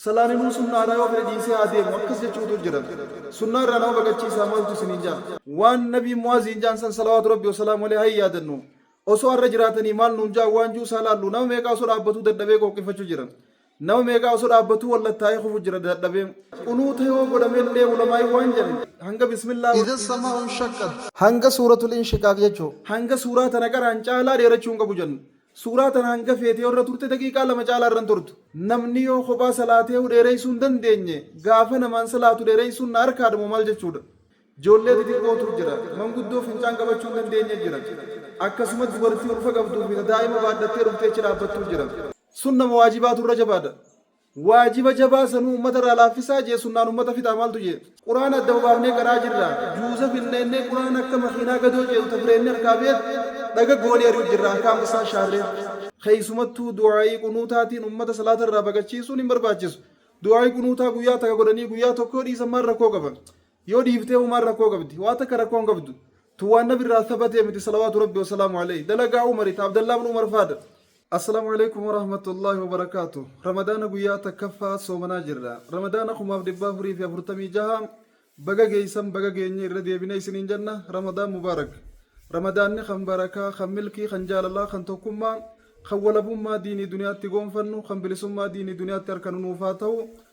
Salaaninu sunnaa irraa yoo fedhe dhiisee haa deemu akkas jechu utuu jedhan sunnaa irraa nama baqachiisaa maaltu isiniin jaan? Waan nabiin mu'aaziin jaan san salawaatu rabbi wasalaamu aleyh haa yaadannu osoo arra jiraatanii maal nuun jaan waan juu isaa laallu nama meeqaa osoo dhaabbatuu dadhabee qooqqifachu jiran nama meeqaa osoo dhaabbatuu wallattaa'ee kufu jira dadhabee qunuuta yoo godhamellee ulamaa'iin waan jan hanga bismillah wa. Idha sama'u inshaqqat. Hanga suuratul inshiqaaq jechu. Hanga suuraa tana qara'an caalaa dheerachuu hin qabu jan. Suuraa tana hanga feete yoo irra turte daqiiqaa lama caalaa irra hin turtu. Namni yoo kophaa salaateehu dheereysuu hin dandeenye gaafa namaan salaatu dheereysuun na harkaadhamoo maal jechuudha? Joollee xixiqqootu jira. Manguddoo fincaan qabachuu hin dandeenye jira. Akkasuma dubartii ulfa qabduu fi ta daa'ima baadhattee dhuftee achi dhaabbattu jira. Sunna moo waajibaatu irra jabaadha? Waajiba jabaa sanuu ummata irraa laaffisaa jee sunnaan ummata fixaa maaltu jee? Qur'aana adda baafnee qara'aa jirra. Juuza finneennee Qur'aana akka makiinaa gadoo ceetu ta fireennii harkaa beet dhaga goonee ari'u jirra ahkaam issaa shaarree. Keeysumattuu du'aa'ii qunuutaatiin ummata salaata irraa baqachiisuun hin barbaachisu. Du'aa'ii qunuutaa guyyaa taka godhanii guyyaa tokkoo dhiisan maal rakkoo qaba? Yoo dhiiftee Umar rakkoo qabdi. Waa takka rakkoo hin qabdu. Tun waan Nabi irraa thabate miti salawaatu Rabbi wa salaamu alayhi. Dalagaa Umari ta Abdallah ibn Umar faadha. Assalamu Alaikum Warahmatullahi Wabarakatuh Ramadana guyyaa takkaffaa soomanaa jirra Ramadana kumaaf dhibbaa afurii fi afurtamii jaha baga geeysan baga geenye irra deebine isiniin jenna Ramadan Mubarak Ramadaanni kan barakaa kan milkii kan jaalalaa kan tokkummaa kan walabummaa diinii duniyaatti goonfannu kan bilisummaa diinii duniyaatti arkanu nuuf haa tahu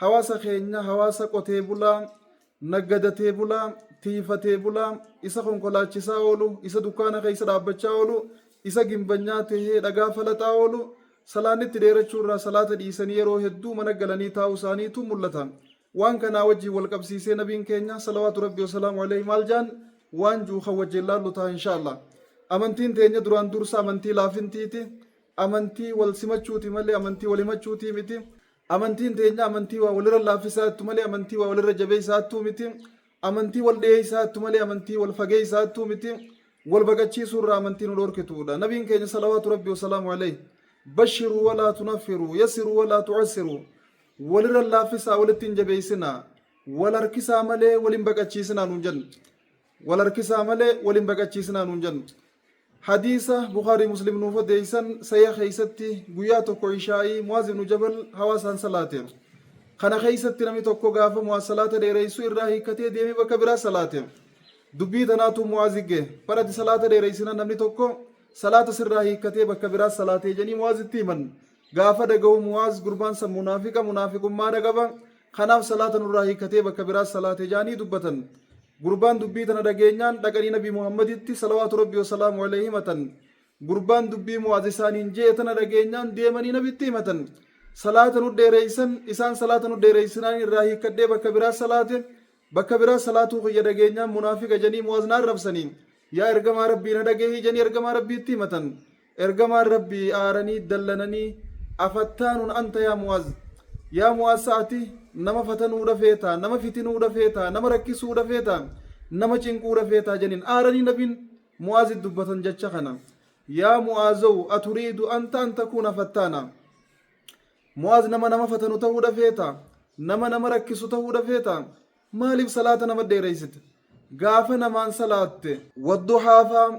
Hawaasa keenya hawaasa qotee bulaa, naggadatee bulaa, tiiyfatee bulaa, isa konkolaachisaa oolu, isa dukkaana keessa dhaabbachaa oolu, isa gimbanyaa tahee dhagaa falaxaa oolu, salaannitti dheerachuu irraa salaata dhiisanii yeroo hedduu mana galanii taa'uu isaaniitu mul'ata. Waan kanaa wajjiin wal qabsiisee nabiin keenya, salawaatu Rabbii wa salaamu aleyhi, maal jaan? Waan ju'u kan wajjiin laallu taha insha'Allah. Amantiin teenya duraan dursa amantii laafintiiti, amantii wal simachuuti malee amantii wal himachuutii miti. Amantiin teenya amantii waa walirra laaffisa'attu malee amantii waa walirra jabeessa'attuu miti. Amantii wal dhiyeessa'attu malee amantii wal fageessa'attuu miti. Wal baqachiisuu irraa amantii nu dhoorkituudha. Nabiin keenya salawaatu rabbi wasalaamu alayhi bashiruu walaa tunaffiruu yassiruu walaa tu'assiruu walirra laaffisaa walitti hin jabeessinaa wal harkisaa malee wal hin baqachiisinaa nuun jedhan. Wal harkisaa malee wal hin baqachiisinaa nuun jennu. Hadiisa Bukhaarii Muslim nuuf odeessan sahiiha keessatti guyyaa tokko ishaa'ii Mu'aaz ibnu Jabal hawaasaan salaateera. Kana keessatti namni tokko gaafa Mu'aaz salaata dheereessu irraa hiikkatee deemee bakka biraa salaate. Dubbii tanaatu Mu'aazi gahe. Bar ati salaata dheereessinaan namni tokko salaata sirraa hiikkatee bakka biraa salaate jedhanii Mu'aazitti himan. Gaafa dhagahu Mu'aaz gurbaan san munaafiqa munaafiqummaadha qaba. Kanaaf salaata nurraa hiikkatee bakka biraa salaate ja'anii dubbatan. Gurbaan dubbii tana dhageenyaan dhaqanii Nabii Muhammaditti, salawaatu Rabbii wa salaamuhu aleyhi, himatan. Gurbaan dubbii Mu'aaz isaaniin je'e tana dhageenyaan deemanii Nabitti himatan. Salaata nu dheereysan, isaan salaata nu dheereysinaan irraa hiikkadhee bakka biraa salaate. Bakka biraa salaatuu kiyya dhageenyaan munaafiqa ja'anii Mu'aaz na arrabsanii. Yaa Ergamaa Rabbii na dhagehi ja'anii Ergamaa Rabbiitti himatan. Ergamaan Rabbii aaranii dallananii, Afattaanun anta yaa Mu'aaz? Yaa Mu'aaz sa ati nama fatanuudha feetaa? Nama fitinuudha feetaa? Nama rakkisuudha feetaa? Nama cinquudha feetaa? janiin. Aaranii Nabiin Mu'aazit dubbatan jacha kana. Yaa Mu'aazow aturiidu anta an takuuna fattaana? Mu'aaz nama nama fatanu tahuudha feetaa? Nama nama rakkisu tahuudha feetaa? Maaliif salaata nama dheereysita? Gaafa namaan salaatte. Wadduhaa faa,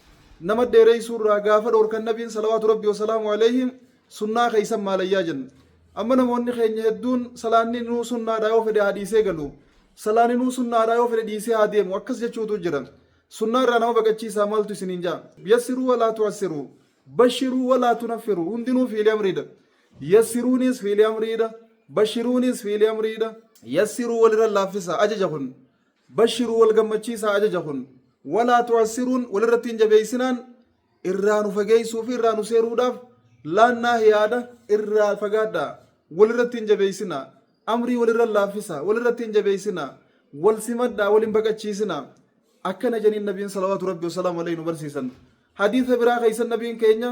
Nama dheereysuu irraa gaafa dhoorkan Nabiin salawaatu Rabbii wa salaamu aleyhi sunnaa keysan maalayyaa jenna. Amma namoonni keenya hedduun salaanni nuu sunnaadha yoo fedhe haa dhiisee galu. Salaanni nuu sunnaadha yoo fedhe dhiisee haa deemu akkas jechuutu jira. Sunnaa irraa nama baqachiisaa maaltu isiniin ja'a? Yassiruu wa laa tu'assiruu. Bashiruu wa laa tunaffiruu. Hundinuu fi'ili amriidha. Yassiruuniis fi'ili amriidha. Bashiruuniis fi'ili amriidha. Yassiruu walirra laaffisaa. Ajaja kun. Bashiruu wal gammachiisaa ajaja kun walaa tu'assiruun walirratti hin jabeessinaan irraa nu fageessuu fi irraa nu seeruudhaaf laannaa yaada irraa fagaadhaa walirratti hin jabeessinaa amrii walirra laaffisaa walirratti hin jabeessinaa wal simadhaa wal hin baqachiisinaa akkana janiin nabiin salawaatu rabbi wasalaamu alayhi nu barsiisan hadiisa biraa keessan nabiin keenya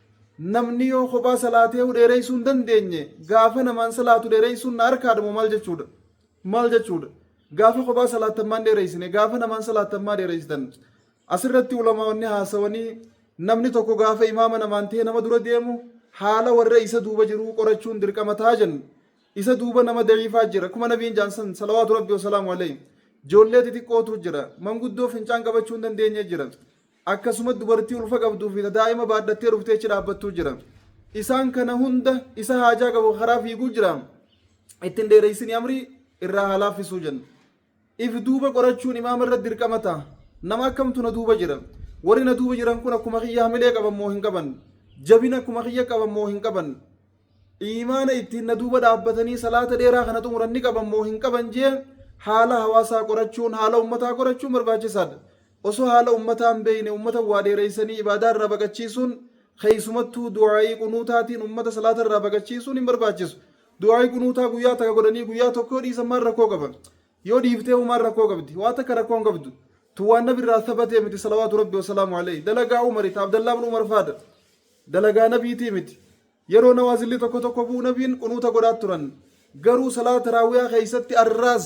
Namni yoo kophaa salaateehu dheereysuu hin dandeenye gaafa namaan salaatu dheereysuun na harkaadha moo maal jechuudha? Maal jechuudha? Gaafa kophaa salaattan maan dheereysine gaafa namaan salaattan maa dheereysitan? Asirratti ulamaa'onni haasawanii namni tokko gaafa imaama namaan ta'ee nama dura deemu haala warra isa duuba jiruu qorachuun dirqama taha jenna. Isa duuba nama da'iifaa jira akkuma nabiin ja'an san salawaatu rabbi wasalaamu aleyhi. Joollee xixiqqootu jira. Manguddoo fincaan qabachuu hin dandeenye jira. Akkasuma dubartii ulfa qabduu fi ta daa'ima baadhattee dhuftee achi dhaabbattuu jira. Isaan kana hunda isa haajaa qabu ka karaa fiiguu jira. Itti hin dheereysinii amrii irraa haa laaffisuu jenna. If duuba qorachuun imaama irratti dirqama taha. Nama akkamtu na duuba jira? Warri na duuba jiran kun akkuma kiyya hamilee qaban moo hin qaban? Jabina akkuma kiyya qaban moo hin qaban? Iimaana ittiin na duuba dhaabbatanii salaata dheeraa kana xumuran ni qaban moo hin qaban jee haala hawaasaa qorachuun, haala ummataa qorachuun barbaachisaadha. Osoo haala ummataa hin beeyne ummata waa dheereysanii ibaadaa irraa baqachiisuun keeysumattuu du'aa'ii qunuutaatiin ummata salaata irraa baqachiisuun hin barbaachisu. Du'aa'ii qunuutaa guyyaa taka godhanii guyyaa tokko yoo dhiisan maal rakkoo qaba? Yoo dhiiftee hoo maal rakkoo qabdi? Waa takka rakkoo hin qabdu. Tun waan nabi irraa thabatee miti salawaatu rabbi wasalaamu aleyh. Dalagaa umari ta abdallaa ibn umar faadha. Dalagaa nabiitii miti. Yeroo nawaazilli tokko tokko bu'u nabiin qunuuta godhaa turan. Garuu salaata taraawiyaa keessatti arraas,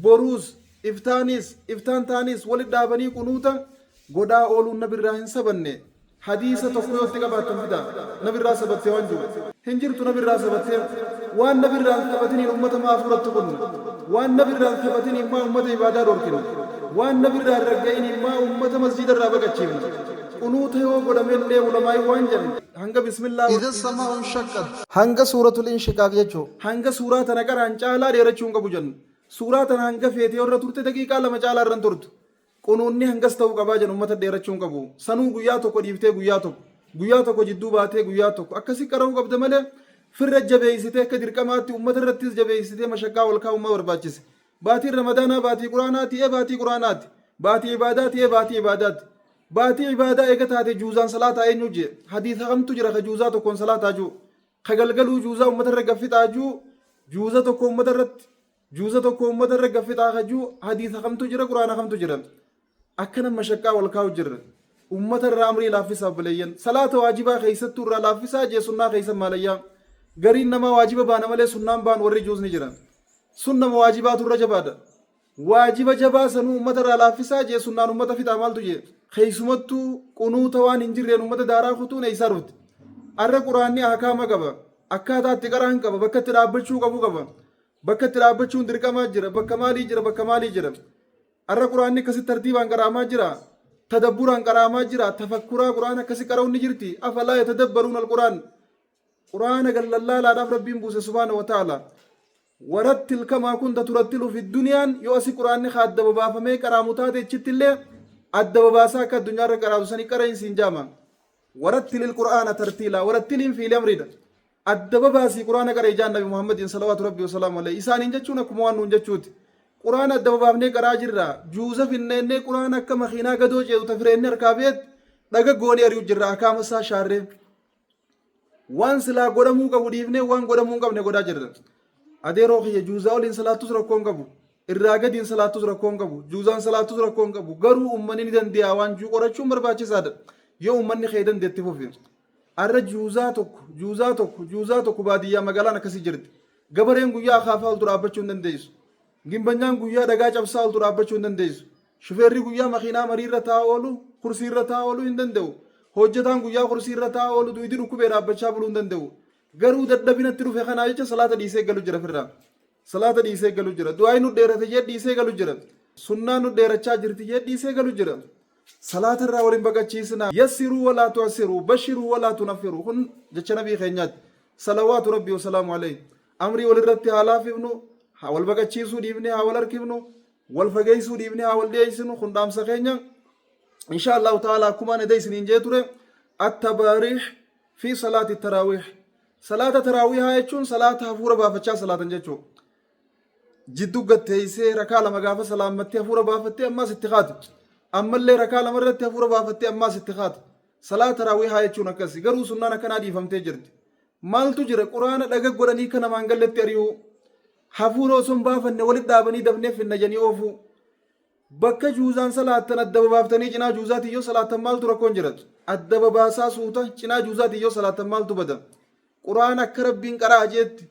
boruus, iftaaniis, iftaan taaniis walitti dhaabanii qunuuta godhaa ooluun nabirraa hin sabanne. Hadiisa tokko yoo itti qabaattan fidaa. Nabirraa sabatte waan jiru. Hin jirtu nabirraa sabattee. Waan nabirraa hin sabatiniin ummata maa afuuratti kun? Waan nabirraa hin sabatiniin maa ummata ibaadaa dhorkina? Waan nabirraa hin ragga'iniin maa ummata masjiidarraa baqachiifna? Qunuuta yoo godhamellee ulamaa'iin waan jedhan. Hanga Bismillaa wa. Idha samaa'u inshaqqat. Hanga suuratul inshiqaaq jechuu. Hanga suuraa tana qara'an caalaa dheerachuu hin qabu jenna. Suuraa tana hanga feete yoo irra turte daqiiqaa lama caalaa irra hin turtu. Qunuunni hangas ta'uu qabaa jenna ummata dheerachuu hin qabu. Sanuu guyyaa tokko dhiiftee guyyaa tokko, guyyaa tokko jidduu baatee guyyaa tokko akkasi qara'uu qabda malee firra jabeeysitee akka dirqamaatti ummata irrattis jabeeysitee mashaqqaa ol kaa'uun maa barbaachise? Baatiin Ramadaanaa baatii Qur'aanaa ti'ee baatii Qur'aanaati. Baatii ibaadaa ti'ee baatii ibaadaati. Baatii ibaadaa eega taate juuzaan salaataa eenyu jee? Hadiisa kamtu jira ka juuzaa tokkoon salaataa juu? Ka galgaluu juuzaa ummata irra gaffixaa juu? Juuza tokko ummata irratti juuza tokko ummata irra gaffixaa ka juu hadiisa kamtu jira Qur'aana kamtu jira? Akkana mashaqqaa wal kaa'u jirra. Ummata irraa amrii laaffisa obboleeyyan. Salaata waajibaa keessattuu irraa laaffisaa jee sunnaa keessan maalayyaa. Gariin namaa waajiba baana malee sunnaa hin baanu warri juus ni jira. Sunnama waajibaatu irra jabaadha. Waajiba jabaa sanuu ummata irraa laaffisaa jee sunnaan ummata fixaa maaltu jee. Keessumattuu qunuuta waan hin jirreen ummata daaraa kutuun eessaa dhufte. Arra quraanni ahkaama qaba. Akkaataa itti qara'an qaba. Bakka itti dhaabbachuu qabu qaba. Bakka itti dhaabbachuun dirqamaa jira, bakka maalii jira, bakka maalii jira. Arra Qur'aanni akkasitti tartiibaan qara'amaa jira. Tadabburaan qara'amaa jira. Tafakkuraa Qur'aana akkasi qara'uun ni jirti. Afalaa yatadabbaruun al-Qur'aan. Qur'aana gad lallaalaadhaaf Rabbiin buuse subhaana wa ta'ala. Warattil kamaa kunta turattilu fi duniyaan yoo asi Qur'aanni haa adda babaafamee qara'amu taate achitti illee adda babaasaa akka addunyaa irra qara'atu sanii qara'iin siin jaama. Warattilil Qur'aana tartiilaa. Warattiliin fiili amriidha. Adda babaasii qur'aana qara'i ja'an nabi Muhammadiin salawaatu rabbii wasalaamu alayhi. Isaaniin jechuun akkuma waan nuun jechuuti. Qur'aana adda babaafnee qara'aa jirra. Juuza finna ennee qur'aana akka makiinaa gadoo ceetu ta fireenne harkaa beetti dhaga goonee ari'u jirra akaama isaa shaarree. Waan silaa godhamuu qabu dhiifnee waan godhamuu hin qabne godhaa jirra. Adeeroo kiyya juuzaa oliin salaattus rakkoo hin qabu. Irraa gadiin salaattus rakkoo hin qabu. Juuzaan salaattus rakkoo hin qabu. Garuu ummanni ni dandee'a waan juu qorachuun barbaachisaadha. Yoo ummanni kee dandeetti fufi. Arra juuzaa tokko, juuzaa tokko, juuzaa tokko baadiyyaa magaalaan akkasi jirti. Gabareen guyyaa akaafaa oltu dhaabbachuu hin dandeessu. Gimbanyaan guyyaa dhagaa cabsaa oltu dhaabbachuu hin dandeessu. Shufeerri guyyaa makiinaa mariirra taa'aa oolu, kursiirra taa'aa ooluu hin danda'u. Hojjetaan guyyaa kursiirra taa'aa oolu duydi dhukkubee dhaabbachaa buluu hin danda'u. Garuu dadhabina itti dhufe kanaa jecha salaata dhiisee galu jira firraa. Salaata dhiisee galu jira. Du'aayi nu dheerate jee dhiisee galu jira. Sunnaa nu dheerachaa jirti jee dhiisee galu jira. Salaata irraa wal hin baqachiisinaa. Yassiruu walaa tu'assiruu. Bashiruu walaa tunaffiruu. Kun jecha nabii keenyaati. Salawaatu rabbii wasalaamu alayhi. Amrii walirratti haa laafifnu. Haa wal baqachiisuu dhiifnee haa wal harkifnu. Wal fageessuu dhiifnee haa wal dhiyeessinu. Kun dhaamsa keenya. Inshaa Allahu ta'ala akkumaan eda isiniin jee ture. Attabaariih fi salaati taraawiih. Salaata taraawihaa jechuun salaata hafuura baafachaa salaatan jechuudha. Jidduu gad teessee rakaa lama gaafa salaammattee hafuura baafattee ammaas itti kaatu. Ammallee rakaa lama irratti hafuura baafattee ammaas itti kaatu. Salaata taraawihaa jechuun akkasi. Garuu sunnaan akkanaa dhiifamtee jirti. Maaltu jira quraana dhaga godhanii kan namaan galletti ari'uu. Hafuura osoo hin baafanne walitti dhaabanii dafnee finna jedhanii oofuu. Bakka juuzaan salaattan adda babaaftanii cinaa juuzaatiin yoo salaattan maaltu rakkoon jiratu? Adda babaasaa suuta cinaa juuzaatiin yoo salaattan maaltu bada? Qur'aana akka Rabbiin qara'a jeetti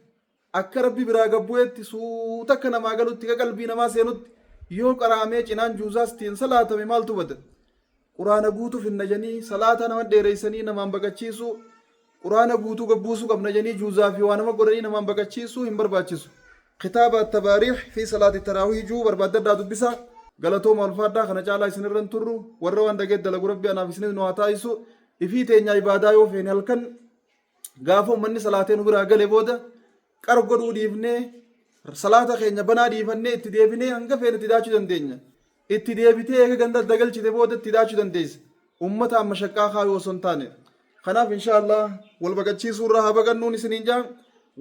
akka Rabbi biraa gad bu'eetti suuta akka namaa galutti akka qalbii namaa seenutti yoo qara'amee cinaan juuzaastiin salaatame maaltu bada? Quraana guutu finna janii salaata nama dheereysanii namaan baqachiisu Quraana guutu gad buusu qabna janii juuzaa fi waa nama godhanii namaan baqachiisu hin barbaachisu kitaaba attabaariix fi salaati taraawiih juu barbaaddadhaa dubbisaa galatooma ulfaadhaa kana caalaa isin irra hin turru warra waan dhageet dalagu rabbi anaaf isinis nu haa taasisu ifii teenyaa ibaadaa yoo feene halkan gaafa ummanni salaatee nu biraa gale booda Qar godhuu dhiifnee, salaata keenya banaa dhiifannee itti deebinee hanga feene itti daachuu dandeenya. Itti deebitee eega ganda adda galchite booda itti daachuu dandeessa. Ummataan mashaqqaa kaayuu osoo hin taane. Kanaaf inshaa Allah wal baqachiisuu irraa haa baqannuun isiniin jaa.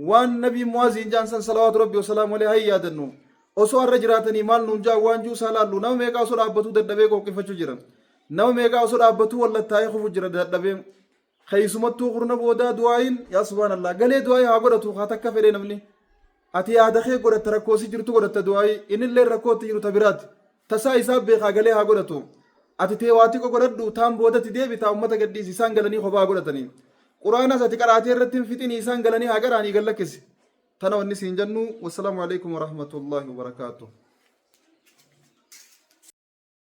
Waan nabiin mu'aaziin jaan san salawaatu rabbi wasalaamu alee haa yaadannu. Osoo har'a jiraatanii maal nuun jaa waan juu isaa laallu nama meeqaa osoo dhaabbatuu dadhabee qooqqifachuu jira. Nama meeqaa osoo dhaabbatuu wallattaa'ee kufu jira dadhabee. Keessumattuu kurna boodaa du'aayiin yaa subhaan Allah galee du'aayii haa godhatu haa takka fedhee namni ati yaada kee godhatta rakkoo si jirtu godhatta du'aayii innillee rakkoo itti jiru ta biraati tasaa isaa beekaa galee haa godhatu ati tee waa xiqqo godhadhu taan boodatti deebitaa ummata gadhiisi isaan galanii kophaa haa godhatanii quraanas ati qaraatee irratti hin fixinii isaan galanii haa qaraanii gad lakkisi tana wanni siin jennu wassalaamu alaikum warahmatullaahi wabarakaatuh